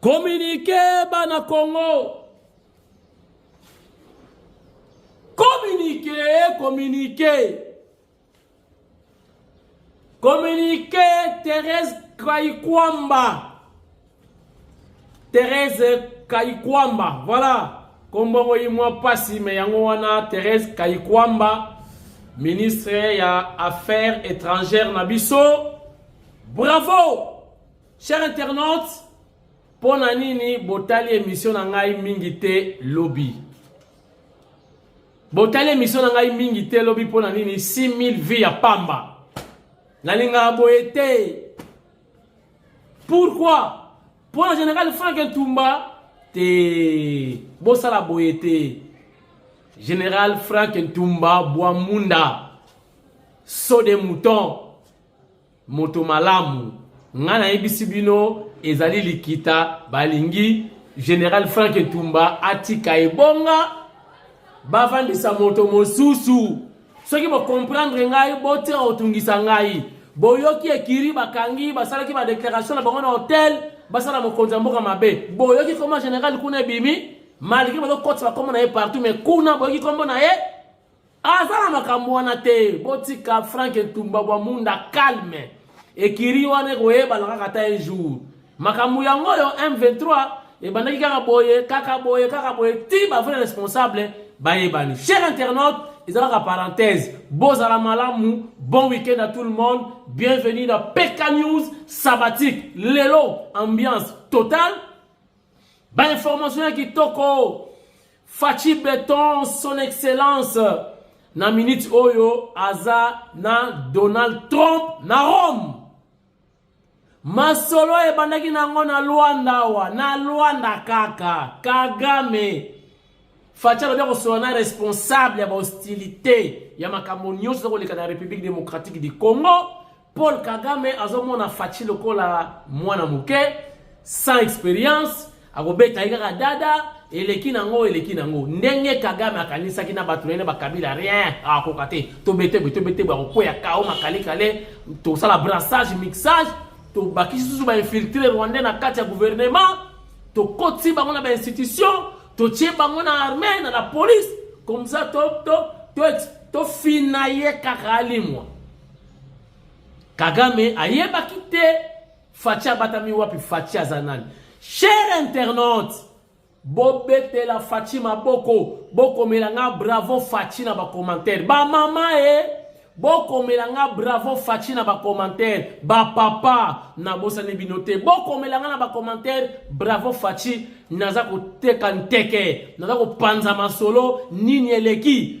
Communiqué bana Congo. Communiqué, communiqué. Communiqué Thérèse Kayikwamba. Thérèse Kayikwamba, voilà. kombongo ye mwa mpasi me yango wana therese kayikwamba ministre ya affaires étrangères na biso Bravo cher internaute mpo na nini botali emission na ngai mingi te lobi botali emission na ngai mingi te lobi mpo na nini 6000 vie ya pamba nalingaka boye te pourquoi mpo na général frank ntumba te bosala boye te général frank ntumba bwamunda so de mouton Moto malamu, ngai nayebisi bino ezali likita balingi General Frank Etumba atika ebonga bavandisa moto mosusu. Soki bokomprendre ngai botika kotungisa ngai. Boyoki ekiri bakangi basalaki badeklaration na bango na hotel basala mokonzi ya mboka mabe. Boyoki koma general kuna ebimi malgre bazokotisa bakoma na ye partout mais kuna boyoki kombo na ye aza na makambo wana te botika frank ntumba bwa munda calme ekiri wana ekoyebana kaka ata un jour makambo yango oyo m23 ebandaki kaka boye kaka boye kaka boye ti bavrai responsable bayebani cher internaute eza kaka parenthèse bozala malamu bon week-end à tout le monde bienvenue na pk news sabbatique lelo ambiance totale Ba information ya kitoko. Fachi Beton, son excellence, na minute oyo aza na Donald Trump na Rome. Masolo ebandaki nango na Luanda awa, na Luanda kaka, Kagame. Fachi alobi akosola na responsable ya ba hostilité ya makambo nyonso ezakoleka na République démocratique du Congo. Paul Kagame azomona Fatshi lokola mwana moke sans experience, akobeta ye kaka dada, eleki nango eleki nango. Ndenge Kagame akanisaki na bato nene bakabila rien akoka te. Tobetebwe tobetebwe akokwea kao makale kale, tosala brassage mixage, tobakisi susu ba infiltre rwandais na kati ya gouvernement, tokoti bango na ba institution, totie bango na armée na la police, comme ça to to to, to fina ye kaka alimwa. Kagame ayebaki te Fatshi abatami wapi Fatshi aza nani cher internaute bobetela Fatshi maboko bokomela nga bravo Fatshi na bacommentaire bamama e eh, bokomela nga bravo Fatshi na bacommentaire bapapa nabosani bino te bokomela nga na bacommentaire bravo Fatshi naza koteka nteke naza kopanza masolo nini eleki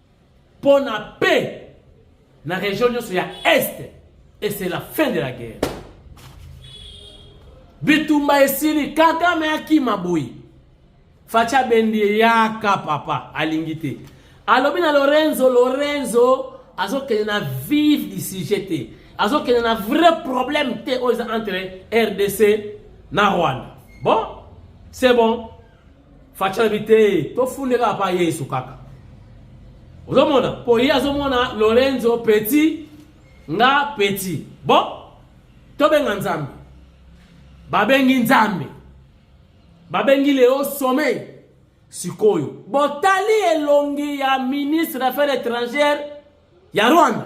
mpo na paix na region nyonso ya est et c'est la fin de la guerre bitumba esili kagame akima boye faci abendi ye yaka papa alingi te alobi na lorenzo lorenzo azokende na vive du sujet te azokende na vrai problème te oyo eza entre rdc na rwanda bon c'est bon Fatshi alobi te tofunde kaka pa Yesu kaka ozomona po ye azomona Lorenzo petit nga petit bon tobenga nzambe babengi nzambe babengi leo sommeil sikoyo botali elongi ya ministre d'affaires étrangères ya rwanda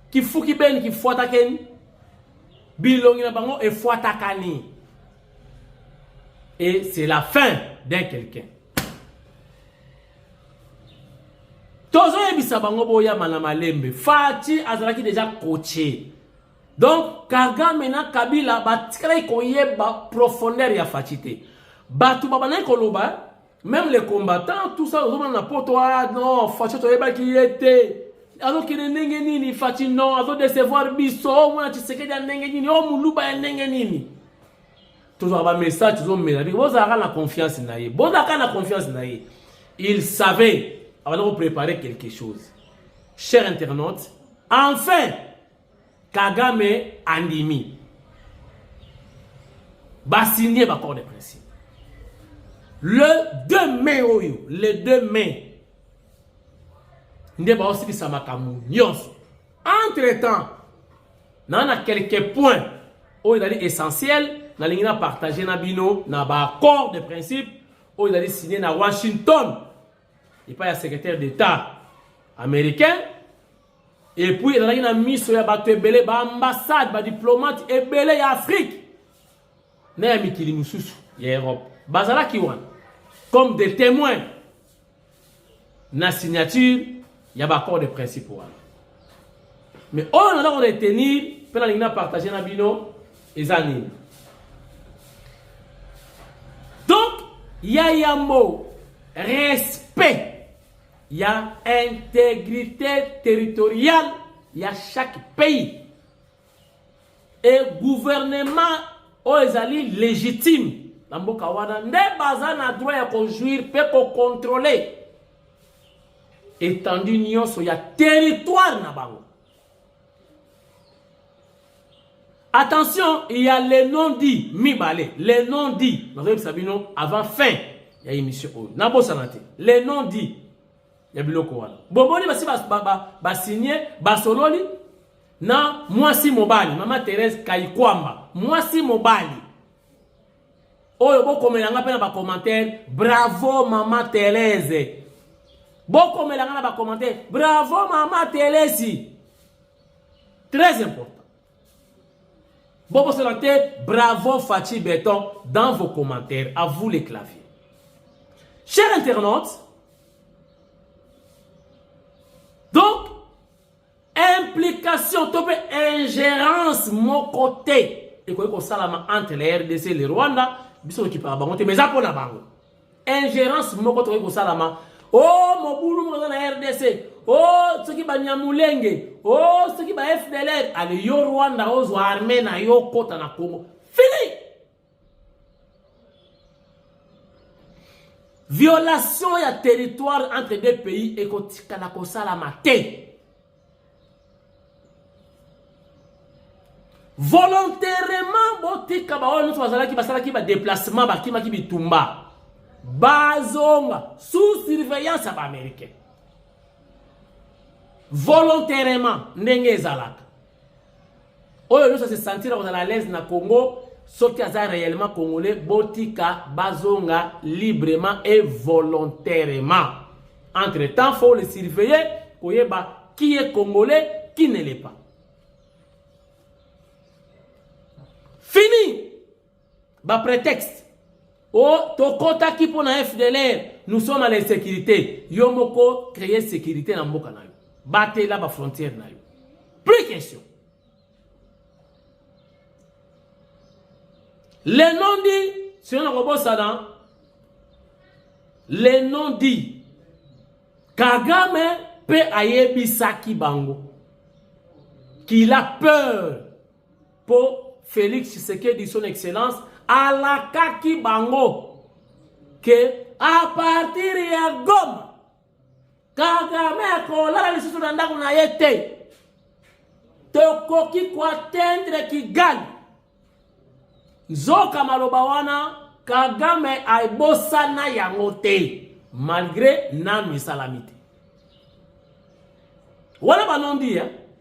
Kifuki beni kifuata keni. Bilongi na bango efuata kani. Et c'est la fin d'un quelqu'un. tozoyebisa bango boyama na malembe fati azalaki deja coache donc kagame na kabila batikalaki koyeba profondeur ya fati te bato babandaki koloba Même les combattants, tout ça, ozomona na poto, ah non, Fatshi toyebaki ye te. Azokende ndenge nini Fatshi non, azo décevoir biso, oh, mwana Tshisekedi ya ndenge nini, oh muluba ya ndenge nini. Tozwa ba message tozomela biko bozalaka na confiance na ye. Bozalaka na confiance na ye. Il savait avant de préparer quelque chose. Cher internaute, enfin Kagame andimi basigne baccord de principe le 2 mai oyo le 2 mai nde baosilisa makambo nyonso entre temps naa na quelque point oyo ezali essentiel nalingi na partage na bino na baaccord de principe oyo ezali signe na washington epai ya secrétaire d'état américain Et puis ezalaki na miso ya bato ebele ba ambassade ba diplomate ebele ya Afrique na ya mikili mosusu ya Europe bazalaki wana comme des témoins na signature ya baaccord de principe wana mais oyo naza ko retenir mpe nalingi na partage na bino eza nini donc ya yambo respect ya integrite territoriale ya chaque pays e gouvernement oyo ezali légitime na mboka wana nde baza na droit ya kojuire mpe kokontrole etendue nyonso ya territoire na bango Attention, il y a les noms dits mibale, les noms dits. Nazoyebisa bino avant fin ya émission oyo. Nabosana te. Les noms dits ya biloko wana. Bomoni basi ba ba ba, ba signer basololi na mwasi mobali, mama Therese Kaikwamba, mwasi mobali oyo bokomela nga mpe na bacommentaire bravo mama telese bokomela nga na bacommentaire bravo mama telesi très important bobosana te bravo faci beton dans vos commentaires à vous les claviers cher internaute implication to mpe ingerence moko te ekoki kosalama entre le rdc le rwanda biso tokipaka bango te mais eza mpo na bango ingerence moko tokoki kosalama o oh, mobulu moko eza na rdc o oh, soki banyamulenge o oh, soki ba fdlr ale yo rwanda ozwa arme na yo okota na congo fini Violation ya territoire entre deux pays ekotikala kosalama te. Volontairement botika ba oyo nyonso bazalaki basalaki ba déplacement bakimaki bitumba bazonga sous surveillance ya baaméricain volontairement ndenge ezalaka oyo nyonso se sentir kozala à l'aise na Congo soki aza réellement congolais botika bazonga librement et volontairement entre temps faut le surveiller koyeba qui est congolais qui ne l'est pas fini Ba pretexte. Oh, tokotaki mpo na FDLR, nous sommes à l'insécurité. Yo moko créer sécurité na mboka na yo. Batela ba frontières na yo. Plus question. Le nom dit, si on a robosana, le nom dit, Kagame pe ayebisaki bango qu'il a peur Po Felix Tshisekedi son excellence alakaki bango que a partir ya Goma Kagame akolala lisusu na ndako na ye te. Tokoki koatendre Kigali. Nzoka maloba wana Kagame aibosana yango te malgre nanu esalami te. Wana banondi ya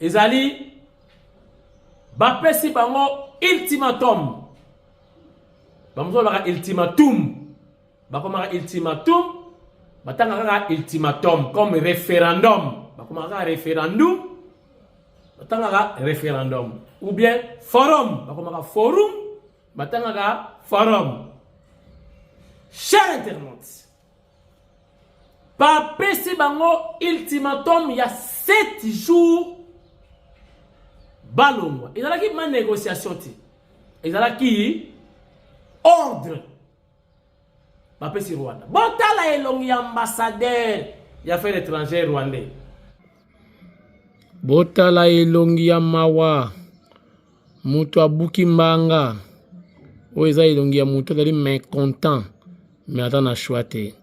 ezali bapesi bango ultimatum bamosusu balobaka ultimatum bakomaka ultimatum batanga kaka ultimatum comme référendum bakomaka kaka référendum batangaka référendum ou bien forum bakomaka forum batangaka forum cher internaute bapesi bango ultimatum ya 7 jours balongwa ezalaki ma négociation te ezalaki ordre bapesi rwanda botala elongi ya ambassadeur ya affaire étrangère rwandais botala elongi ya mawa Moto abuki mbanga oyo eza elongi ya moto azali mecontent me aza na shwa te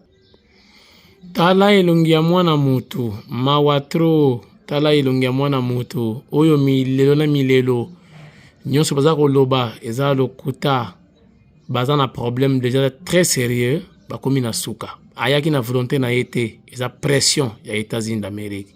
tala elongi ya mwana moto mawa tro tala elongi ya mwana moto oyo milelo na milelo nyonso baza koloba eza lokuta baza na problème déjà très sérieux bakomi na suka ayaki na volonté na ye te eza pression ya états-unis d'amérique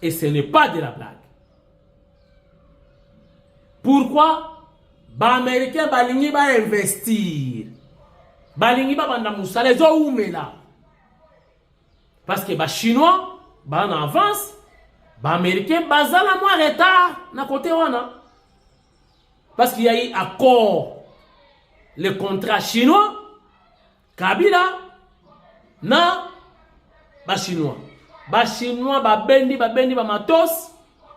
Et ce n'est pas de la blague. Pourquoi Ba-Américains balingi ba investir. Balingi ba banda musala ezo umela. Parce que ba Chinois ba na avance, ba Américains bazala moins retard na côté wana. Parce qu'il y a eu accord le contrat chinois Kabila na ba chinois ba chinois babendi babendi bamatos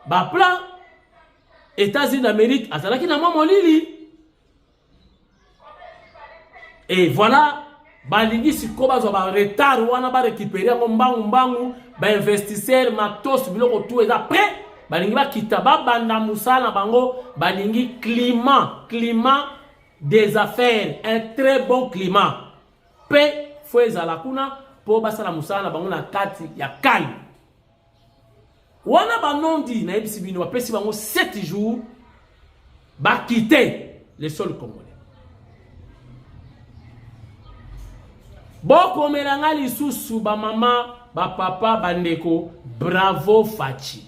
baplan états-unis d'amérique azalaki na mwa molili e voilà balingi sikoyo bazwa baretard wana barécupere yango mbangu mbangu bainvestisseur matos biloko tu eza prêt balingi bakita babanda mosala na bango balingi climat climat des affaires un très bon climat mpe fo ezala kuna mpo basala mosala na bango na kati ya calme wana banondi nayebisi bino bapesi bango 7 jours bakite le sol congolais bokomela ngai lisusu bamama bapapa bandeko bravo faci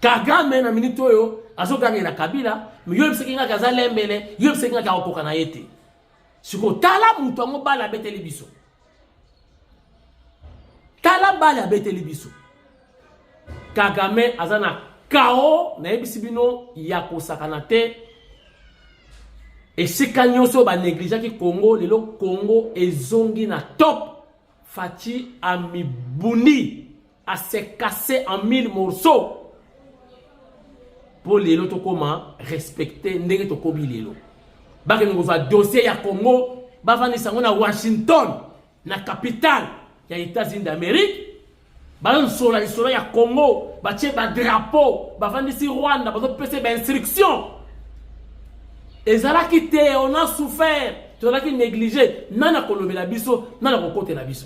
kagame na minute oyo azogangela kabila yo ebisaki ngaki aza lembele yo ebisaki ngaki akokoka na ye te sikoyo tala moto yango bale abeteli biso tala bale abeteli biso kagame aza na kao nayebisi bino ya kosakana te esika nyonso banegligaki congo lelo congo ezongi na top faci amibundi a se casser en mille morceaux mpo lelo tokoma respecte ndenge tokomi lelo bakende kozwa dossier ya congo bafandisa yango na washington na capitale ya états-unis d'amérique bazosola lisolo ya congo batie badrapo bafandisi rwanda bazopesa bainstruction ezalaki te on a souffert tozalaki néglige nani akolobela biso nani akokotela biso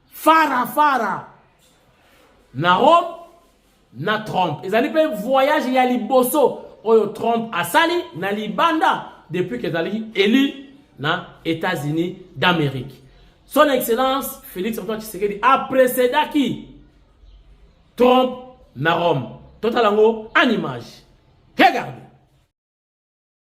Fara fara na Rome na Trump ezali mpe voyage ya liboso oyo Trump asali na libanda depuis que ezali élu na États-Unis d'Amérique. Son Excellence Félix Antoine Tshisekedi a précédé qui Trump na Rome. Total en image. Regardez.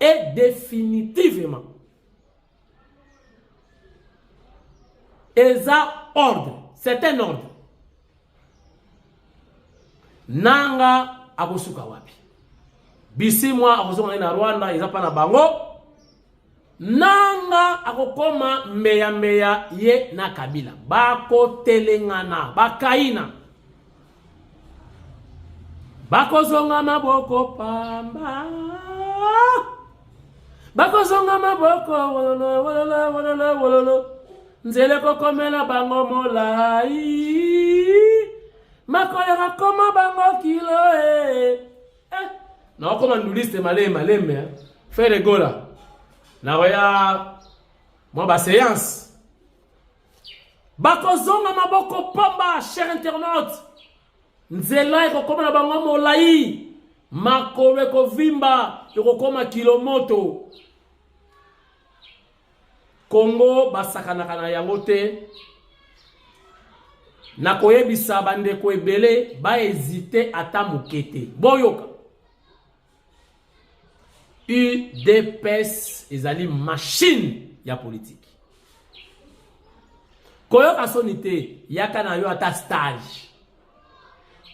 Et définitivement, eza ordre, c'est un ordre. Nanga akosuka wapi? Bisimwa akozonga na Rwanda, eza pa na bango. Nanga akokoma mbeya mbeya ye na Kabila bakotelengana bakaina bakozonga maboko pamba bakozonga maboko wololo wololo wololo wololo nzela ekokomela bango molai makolela koma bango kilo e eh. Eh, na wakoma nduliste malembe malembe hein. Ferre Gola. Na waya mwa ba séance. Bakozonga maboko pamba cher internaute. Nzela ekokoma na bango molai. Makolo ekovimba ekokoma kilo moto. Congo basakanaka na yango te na koyebisa bandeko ebele baezite ata moke te boyoka udps ezali machine ya politiki koyoka soni te yaka na yo ata stage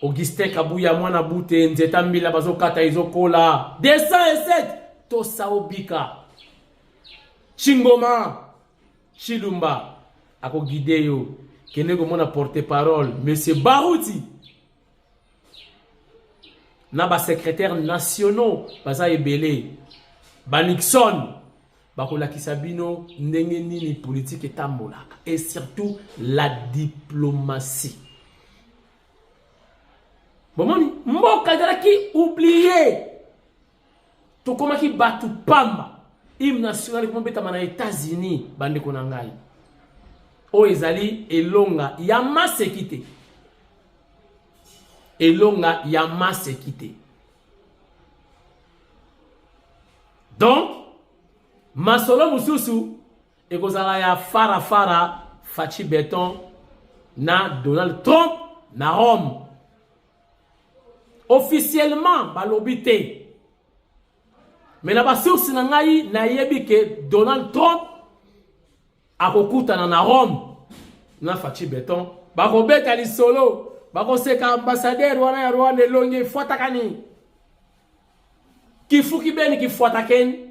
augustin kabuya mwana bute nzeta mbila bazokata ezokola 207 tosa obika Chingoma Chilumba ako guide yo kende komona porte parole monsieur Baruti na ba secrétaires nationaux baza ebele ba Nixon bakolakisa bino ndenge nini politique etambolaka et surtout la diplomatie bomoni mboka ezalaki oublie tokomaki bato pamba hymne national ekomi obetama na états-unis bandeko na ngai oyo ezali elonga ya maseki te elonga ya maseki te donc masolo mosusu ekozala ya farafara faci beton na donald trump na rome Officiellement balobi te. Mais na ba source na ngai nayebi ke Donald Trump akokutana na Rome na Fatshi Beton bakobeta lisolo bakoseka ambassadeur wana ya Rwanda elongi efuataka nini kifuki beni kifuatakeni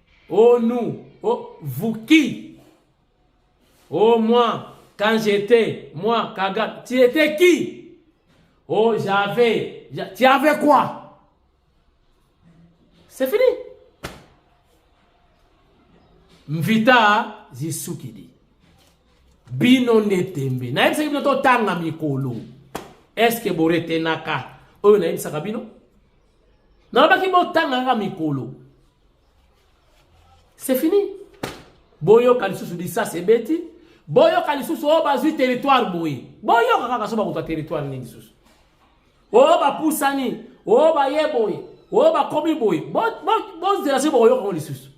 Oh nous, oh vous qui Oh moi, quand j'étais, moi, Kagame, tu étais qui Oh j'avais, tu avais quoi C'est fini. Mvita Zisukidi. Bino netembe. Na yebisa bino to tanga mikolo. Est-ce que boretenaka? Oyo na yebisaka bino? nalobaki botanga kaka mikolo c'est fini boyoka lisusu lisasi ebeti boyoka lisusu oyo oh, bazwi territoire boye boyoka kaka so bakozwa territoire nini lisusu oyo oh, bapusani oyo oh, baye boye oyo bakomi boye bozela soki bokoyoka yango lisusu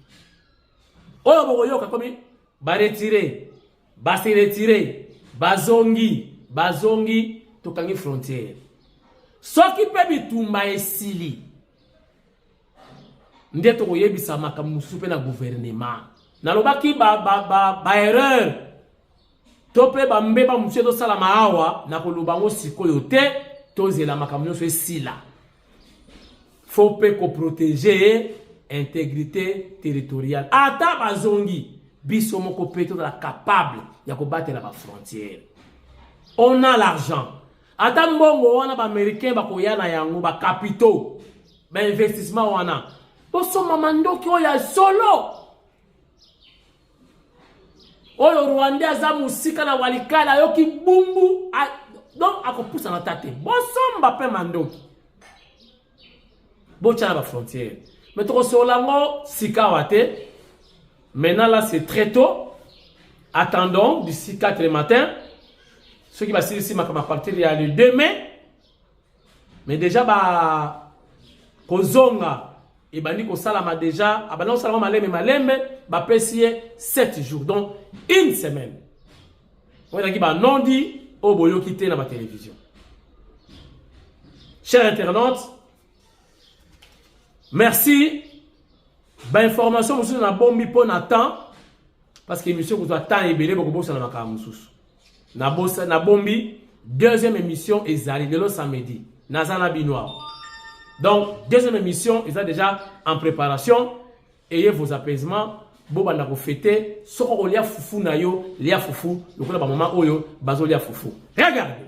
oyo bokoyoka komi baretire Ba se retirer, bazongi, bazongi, tokangi frontière. Soki mpe bitumba esili nde tokoyebisa makambo mosusu mpe na guvernema. Nalobaki ba, ba, ba, ba erreur to mpe bambeba mosusu ezosalama awa, nakoloba yango sikoyo te, tozela makambo nyonso esila. faut mpe koprotege integrité territoriale ata bazongi biso moko mpe tozala capable ya kobatela bafrontière on a l'argent ata mbongo wana baaméricain bakoya na yango bacapitaux bainvestissement wana tosomba mandoki oyo ya solo oyo rwandais aza mosika na walikale ayoki bumbu a, donc akopusana ta te bosomba mpe mandoki botya na bafrontière me tokosolola yango sikawa te maintenant là c'est très tôt attendons d'ici 4 le matin soki basilisi makambo apartir ya le 2 mai mais deja ba kozonga ebandi kosalama deja abandi kosalama malembe malembe bapesi ye 7 jours donc une semaine oyo ezalaki banondi oyo boyoki te na batelevizio cher internaute merci bainformation mosusu nabombi mpo na temps parce que émission kozwa temps ebele bokobosana makambo mosusu Na bosa na bombi deuxième émission ezali lelo samedi naza na bino awa donc deuxième émission eza déjà en préparation ayez vos apaisements bobanda kofete soko okolia fufu na yo lia fufu lokola bamama oyo bazolia fufu regarde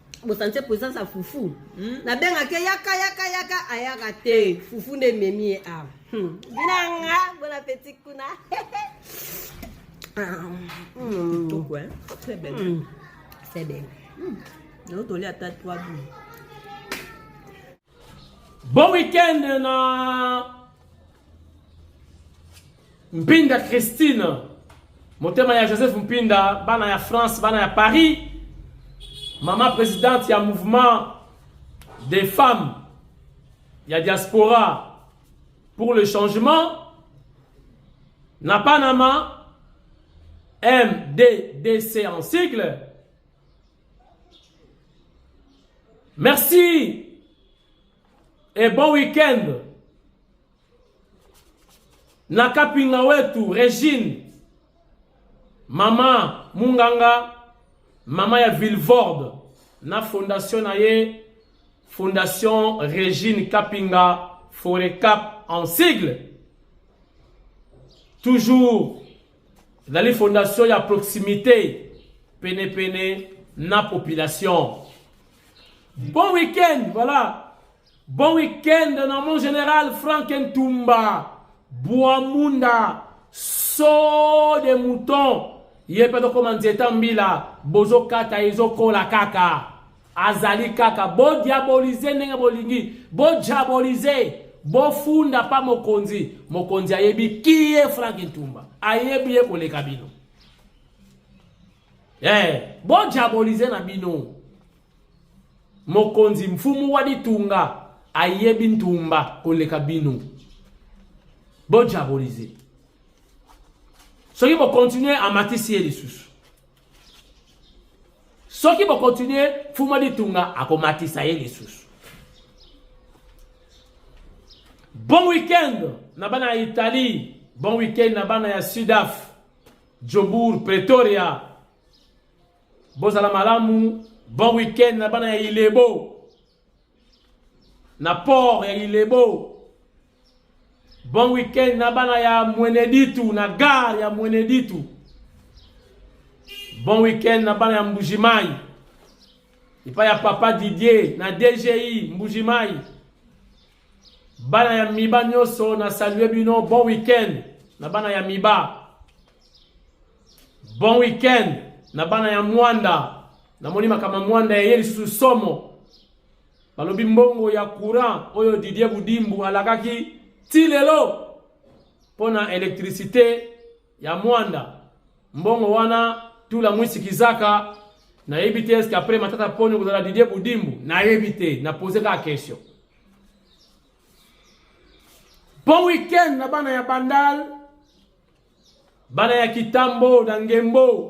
bosantie présence ya fufu hmm? nabengaki yaka yaka yaka ayaka te fufu nde ememi ye awa hmm. binanga bon appétit kuna ah, hmm. kitoko hein très belle c'est bien nayo toli ata 3 boules Bon week-end na Mpinda Christine motema ya Joseph Mpinda bana ya France bana ya Paris mama presidente ya mouvement des femmes ya diaspora pour le changement na Panama MDDC en sigle Merci et bon week-end. Nakapinga wetu Regine, mama Munganga, mama ya Villevorde na fondation na ye Fondation Regine Kapinga Forecap en sigle. Toujours ezali fondation ya proximité penepene na population bon week-end voilà bon week-end na mon général frank ntumba bwamunda so de mouton ye mpe tokoma nzeta mbila bozokata ezokola kaka azali kaka bodiabolize ndenge bolingi bodiabolize bofunda pa mokonzi mokonzi ayebi kiye frank ntumba ayebi ye koleka bino hey, eh, bodiabolize na bino mokonzi mfumu wa litunga ayebi ntumba koleka bino bodiabolize soki bokontinue amatisi ye lisusu soki bokontinue fuma ditunga akomatisa ye lisusu bon weekend na bana ya italie bon weekend na bana ya sudaf jobourg pretoria bozala malamu bon weekend na bana ya ilebo na port ya Ilebo. Bon week-end na bana ya Mweneditu na gare ya Mweneditu. Bon week-end na bana ya Mbujimai. Epai ya papa Didier na DGI Mbujimai. Bana ya Miba nyoso na salue bino bon week-end na bana ya Miba. Bon week-end na bana ya Mwanda Namoni makama mwanda ya Yesu somo. Balobi mbongo ya courant oyo Didier Budimbu alakaki ti lelo mpo na electricité ya mwanda. Mbongo wana tula mwisi kizaka nayebi te eske après matata poni kozala Didier Budimbu nayebi te na pose kaka question. Bon week-end na bana ya Bandal, bana ya Kitambo na Ngembo.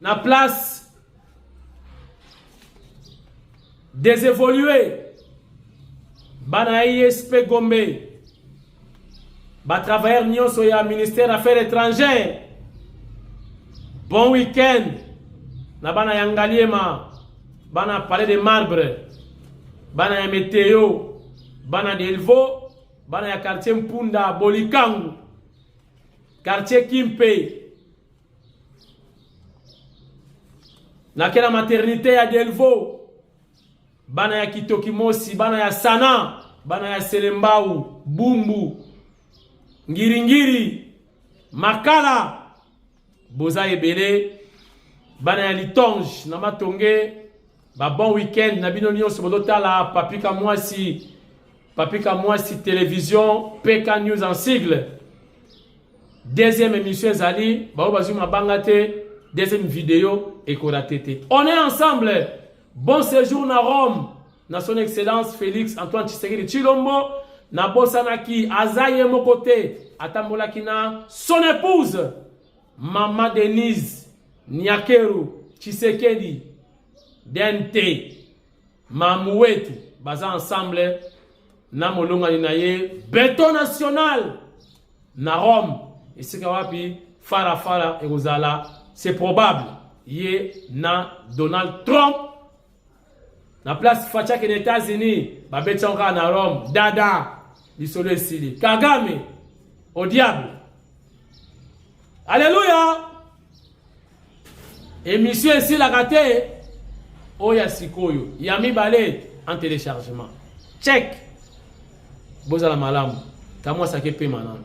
na place des évolués bana ISP e Gombe ba travailleurs nyonso ya ministère affaires étrangères bon week-end na bana ya Ngaliema bana palais de marbre bana ya meteo bana delvo bana ya quartier Mpunda Bolikangu quartier Kimpe na kela maternité ya Delvaux bana ya Kitokimosi bana ya Sana bana ya Selembao Bumbu Ngiringiri Makala boza ebele bana ya Litonge na Matonge Ba bon week-end na bino nyonso bozotala Papi Kamwasi, Papi Kamwasi Television, PK News en sigle. Deuxième émission ezali, baoyo bazwi mabanga te, deuxième video ekorate te. On est ensemble. Bon séjour na Rome, na son excellence Félix Antoine Tshisekedi Tshilombo, nabosanaki aza ye moko te, atambolaki na son épouse. Mama Denise Nyakeru Tshisekedi DNT mamu wetu baza ensemble na molongani na ye beton national na Rome esika wapi fara fara ekozala c'est probable ye na Donald Trump na place faci akende états-unis babeti yango kaka na rome dada lisolo esili kagame au diable aleluya emission esilaka te oyo ya sikoyo ya mibale en téléchargement check bozala malamu kamwasaki epema nano